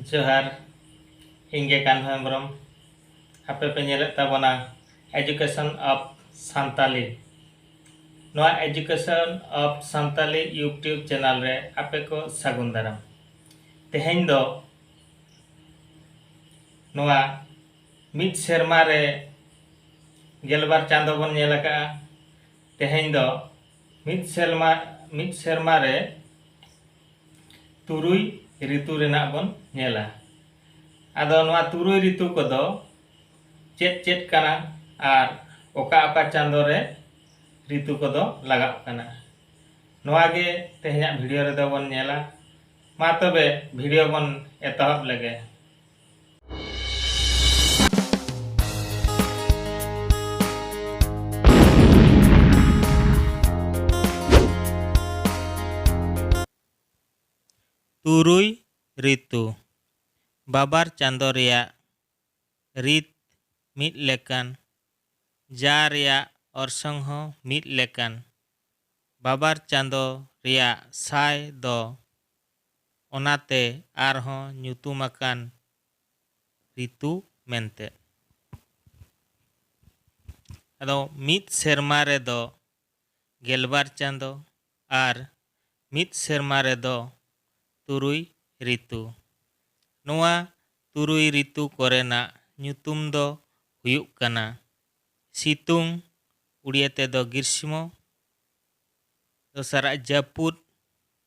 ᱡᱚᱦᱟᱨ ᱤᱧ ᱜᱮ ᱠᱟᱱᱦᱚ ᱦᱮᱢᱵᱨᱚᱢ ᱟᱯᱮ ᱯᱮ ᱧᱮᱞᱮᱫ ᱛᱟᱵᱚᱱᱟ ᱮᱡᱩᱠᱮᱥᱚᱱ ᱚᱯᱷ ᱥᱟᱱᱛᱟᱞᱤ ᱱᱚᱣᱟ education of Santali YouTube channel ᱨᱮ ᱟᱯᱮ ᱠᱚ ᱥᱟᱹᱜᱩᱱ ᱫᱟᱨᱟᱢ ᱛᱮᱦᱮᱧ ᱫᱚ ᱱᱚᱣᱟ ᱢᱤᱫ ᱥᱮᱨᱢᱟ ᱨᱮ ᱜᱮᱞᱵᱟᱨ ᱪᱟᱸᱫᱚ ᱵᱚᱱ ᱧᱮᱞ ᱟᱠᱟᱜᱼᱟ ᱛᱮᱦᱮᱧ ᱫᱚ ᱢᱤᱫ ᱥᱮᱨᱢᱟ ᱢᱤᱫ ᱥᱮᱨᱢᱟ ᱨᱮ ᱛᱩᱨᱩᱭ ᱨᱤᱛᱩ ᱨᱮᱱᱟᱜ ᱵᱚᱱ ᱧᱮᱞᱟ ᱟᱫᱚ ᱱᱚᱣᱟ ᱛᱩᱨᱩᱭ ᱨᱤᱛᱩ ᱠᱚᱫᱚ ᱪᱮᱫ ᱪᱮᱫ ᱠᱟᱱᱟ ᱟᱨ ᱚᱠᱟ ᱚᱠᱟ ᱪᱟᱸᱫᱚ ᱨᱮ ᱨᱤᱛᱩ ᱠᱚᱫᱚ ᱞᱟᱜᱟᱣᱚᱜ ᱠᱟᱱᱟ ᱱᱚᱣᱟ ᱜᱮ ᱛᱮᱦᱮᱧᱟᱜ ᱵᱷᱤᱰᱤᱭᱳ ᱨᱮᱫᱚ ᱵᱚᱱ ᱧᱮᱞᱟ ᱢᱟ ᱛᱚᱵᱮ ᱵᱷᱤᱰᱤᱭᱳ ᱵᱚᱱ ᱮᱛᱚᱦᱚᱵ ᱞᱮᱜᱮ ᱛᱩᱨᱩᱭ ᱨᱤᱛᱩ ᱵᱟᱵᱟᱨ ᱪᱟᱸᱫᱚ ᱨᱮᱭᱟᱜ ᱨᱤᱛ ᱢᱤᱫ ᱞᱮᱠᱟᱱ ᱡᱟ ᱨᱮᱭᱟᱜ ᱚᱨᱥᱚᱝ ᱦᱚᱸ ᱢᱤᱫ ᱞᱮᱠᱟᱱ ᱵᱟᱵᱟᱨ ᱪᱟᱸᱫᱚ ᱨᱮᱭᱟᱜ ᱥᱟᱭ ᱫᱚ ᱚᱱᱟᱛᱮ ᱟᱨᱦᱚᱸ ᱧᱩᱛᱩᱢ ᱟᱠᱟᱱ ᱨᱤᱛᱩ ᱢᱮᱱᱛᱮ᱾ ᱟᱫᱚ ᱢᱤᱫ ᱥᱮᱨᱢᱟ ᱨᱮ ᱫᱚ ᱜᱮᱞᱵᱟᱨ ᱪᱟᱸᱫᱚ ᱟᱨ ᱢᱤᱫ ᱥᱮᱨᱢᱟ ᱨᱮ ᱫᱚ ᱛᱩᱨᱩᱭ ᱨᱤᱛᱩ᱾ ᱱᱚᱣᱟ ᱛᱩᱨᱩᱭ ᱨᱤᱛᱩ ᱠᱚᱨᱮᱱᱟᱜ ᱧᱩᱛᱩᱢ ᱫᱚ ᱦᱩᱭᱩᱜ ᱠᱟᱱᱟ ᱥᱤᱛᱩᱝ, ᱩᱲᱤᱭᱟᱹ ᱛᱮᱫᱚ ᱜᱨᱤᱥᱢᱚ, ᱫᱚᱥᱟᱨᱟᱜ ᱡᱟᱹᱯᱩᱫ,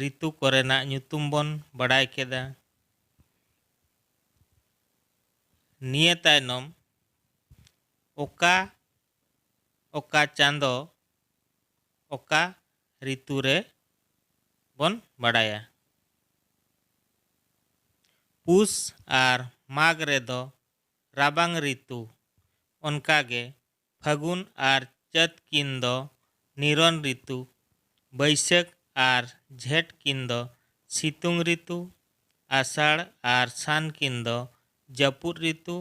ᱨᱤᱛᱩ ᱠᱚᱨᱮᱱᱟᱜ ᱧᱩᱛᱩᱢ ᱵᱚᱱ ᱵᱟᱰᱟᱭ ᱠᱮᱫᱟ᱾ ᱱᱤᱭᱟᱹ ᱛᱟᱭᱱᱚᱢ ᱚᱠᱟ ᱚᱠᱟ ᱪᱟᱸᱫᱚ ᱚᱠᱟ ᱨᱤᱛᱩ ᱨᱮ ᱵᱚᱱ ᱵᱟᱰᱟᱭᱟ᱾ ᱯᱩᱥ ᱟᱨ ᱢᱟᱜᱽ ᱨᱮ ᱫᱚ ᱨᱟᱵᱟᱝ ᱨᱤᱛᱩ ᱚᱱᱠᱟ ᱜᱮ ᱯᱷᱟᱹᱜᱩᱱ ᱟᱨ ᱪᱟᱹᱛ ᱠᱤᱱ ᱫᱚ ᱱᱤᱨᱚᱱ ᱨᱤᱛᱩ, ᱵᱟᱹᱭᱥᱟᱹᱠᱷ ᱟᱨ ᱡᱷᱮᱸᱴ ᱠᱤᱱ ᱫᱚ ᱥᱤᱛᱩᱝ ᱨᱤᱛᱩ, ᱟᱥᱟᱲ ᱟᱨ ᱥᱟᱱ ᱠᱤᱱ ᱫᱚ ᱡᱟᱹᱯᱩᱫ ᱨᱤᱛᱩ,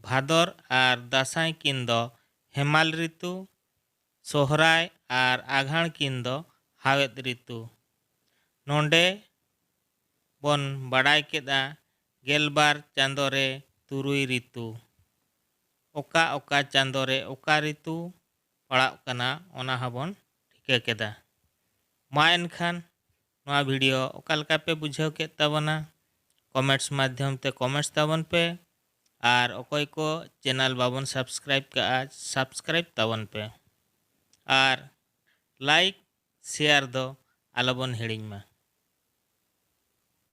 ᱵᱷᱟᱫᱚᱨ ᱟᱨ ᱫᱟᱥᱟᱸᱭ ᱠᱤᱱ ᱫᱚ ᱦᱮᱢᱟᱞ ᱨᱤᱛᱩ, ᱥᱚᱦᱨᱟᱭ ᱟᱨ ᱟᱜᱷᱟᱬ ᱠᱤᱱ ᱫᱚ ᱦᱟᱣᱮᱫ ᱨᱤᱛᱩ᱾ ᱱᱚᱸᱰᱮ ᱵᱚᱱ ᱵᱟᱰᱟᱭ ᱠᱮᱫᱼᱟ ᱜᱮᱞᱵᱟᱨ ᱪᱟᱸᱫᱚ ᱨᱮ ᱛᱩᱨᱩᱭ ᱨᱤᱛᱩ᱾ ᱚᱠᱟ ᱚᱠᱟ ᱪᱟᱸᱫᱚ ᱨᱮ ᱚᱠᱟ ᱨᱤᱛᱩ ᱯᱟᱲᱟᱜ ᱠᱟᱱᱟ ᱚᱱᱟ ᱦᱚᱸ ᱵᱚᱱ ᱴᱷᱤᱠᱟᱹ ᱠᱮᱫᱟ᱾ ᱢᱟ ᱮᱱᱠᱷᱟᱱ ᱱᱚᱣᱟ ᱵᱷᱤᱰᱤᱭᱳ ᱚᱠᱟ ᱞᱮᱠᱟ ᱯᱮ ᱵᱩᱡᱷᱟᱹᱣ ᱠᱮᱫ ᱛᱟᱵᱚᱱᱟ ᱠᱚᱢᱮᱸᱴᱥ ᱢᱟᱫᱷᱭᱚᱢ ᱛᱮ ᱠᱚᱢᱮᱸᱴᱥ ᱛᱟᱵᱚᱱ ᱯᱮ ᱟᱨ ᱚᱠᱚᱭ ᱠᱚ ᱪᱮᱱᱟᱞ ᱵᱟᱵᱚᱱ ᱥᱟᱵᱥᱠᱨᱟᱭᱤᱵ ᱠᱟᱜᱼᱟ ᱥᱟᱵᱥᱠᱨᱟᱭᱤᱵ ᱛᱟᱵᱚᱱ ᱯᱮ ᱟᱨ ᱞᱟᱭᱤᱠ ᱥᱮᱭᱟᱨ ᱫᱚ ᱟᱞᱚ ᱵᱚᱱ ᱦᱤᱲᱤᱧ ᱢᱟ᱾